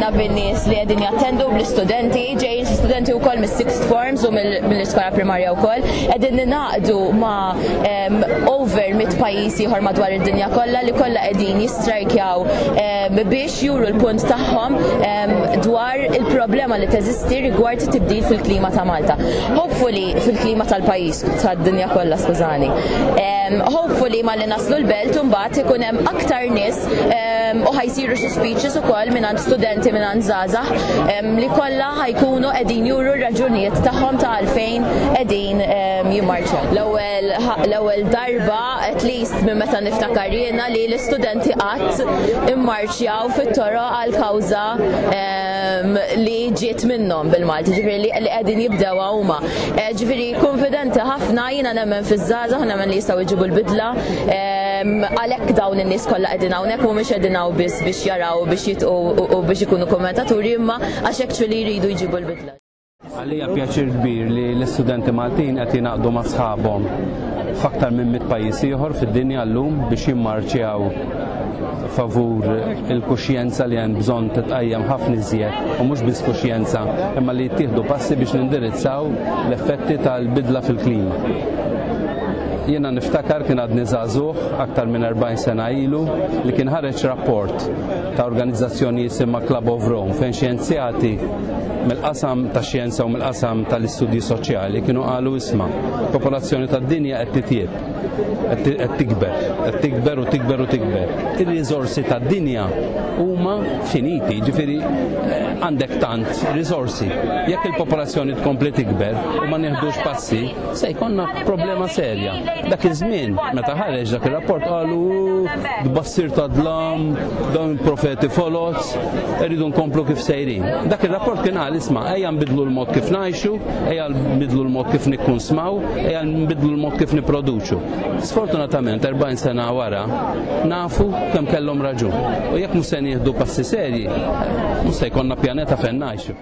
ħafna bin-nies li qegħdin jattendu bl-istudenti, ġejjin studenti wkoll mis-sixth forms u mill-iskola primarja wkoll, qegħdin ninaqdu ma' over mit pajjiż ieħor madwar id-dinja kollha li kollha qegħdin jistrajkjaw biex juru l-punt tagħhom dwar il-problema li teżisti rigward tibdil fil-klima ta' Malta. Hopefully fil-klima tal-pajjiż tad-dinja kollha skużani. Hopefully Naslu l-belt u mbagħad ikun hemm aktar nies ehm, u ħajsiru xi speeches ukoll mingħand studenti mingħand żgħażagħ ehm, li kollha ħajkunu qegħdin juru r-raġunijiet tagħhom ta' għalfejn qegħdin ehm, jimmarċu. L-ewwel l-ewwel darba at least minn meta niftakar jiena li l-istudenti qatt immarċjaw fit-toro għal kawża li ġiet minnhom bil-Malti, ġifieri li qegħdin jibdew huma. Eh, Ġifieri kunfidenti ħafna jiena nemmen fiż-żgħażagħ, nemmen li jistgħu jġibu l-bidla. Għalhekk dawn in-nies kollha qegħdin hawnhekk mhumiex qegħdin hawn biss biex jaraw biex jitqu u biex ikunu kummentaturi imma għax hekk ċfiri jridu jġibu l-bidla. Għalija pjaċir kbir li l-istudenti Maltin qed jingħaqdu ma' sħabhom f'aktar minn mit pajjiż ieħor fid-dinja llum biex jimmarċjaw favur il-kuxjenza li hemm bżonn titqajjem ħafna iżjed u mhux biss kuxjenza imma li jittieħdu passi biex nindirizzaw l-effetti tal-bidla fil-klima. Jiena niftakar kien għadni żagħżugħ aktar minn 40 sena ilu li kien ħareġ rapport ta' organizzazzjoni jisimha Club of Rome fejn xjenzjati mill-qasam ta' xjenza u mill-qasam tal-istudji soċjali kienu qalu isma' popolazzjoni tad-dinja qed titjieb qed tikber, qed tikber u tikber u tikber. Ir-riżorsi tad-dinja huma finiti, ġifieri eh, għandek tant riżorsi. Jekk il-popolazzjoni tkompli tikber u ma nieħdux passi, se jkollna problema serja. Dak iż-żmien meta ħareġ dak ir-rapport qalu tbassir ta' dlam, dawn profeti foloz, irridu nkomplu kif sejrin. Dak ir-rapport kien qal isma' ejja nbidlu l-mod kif ngħixu, ejja nbidlu l-mod kif nikkunsmaw, Ejja nbidlu l-mod kif niproduċu. Sfortunatament 40 sena wara nafu kemm kellhom raġun. U jekk mhux se nieħdu passi serji, mhux se jkollna pjaneta fejn ngħixu.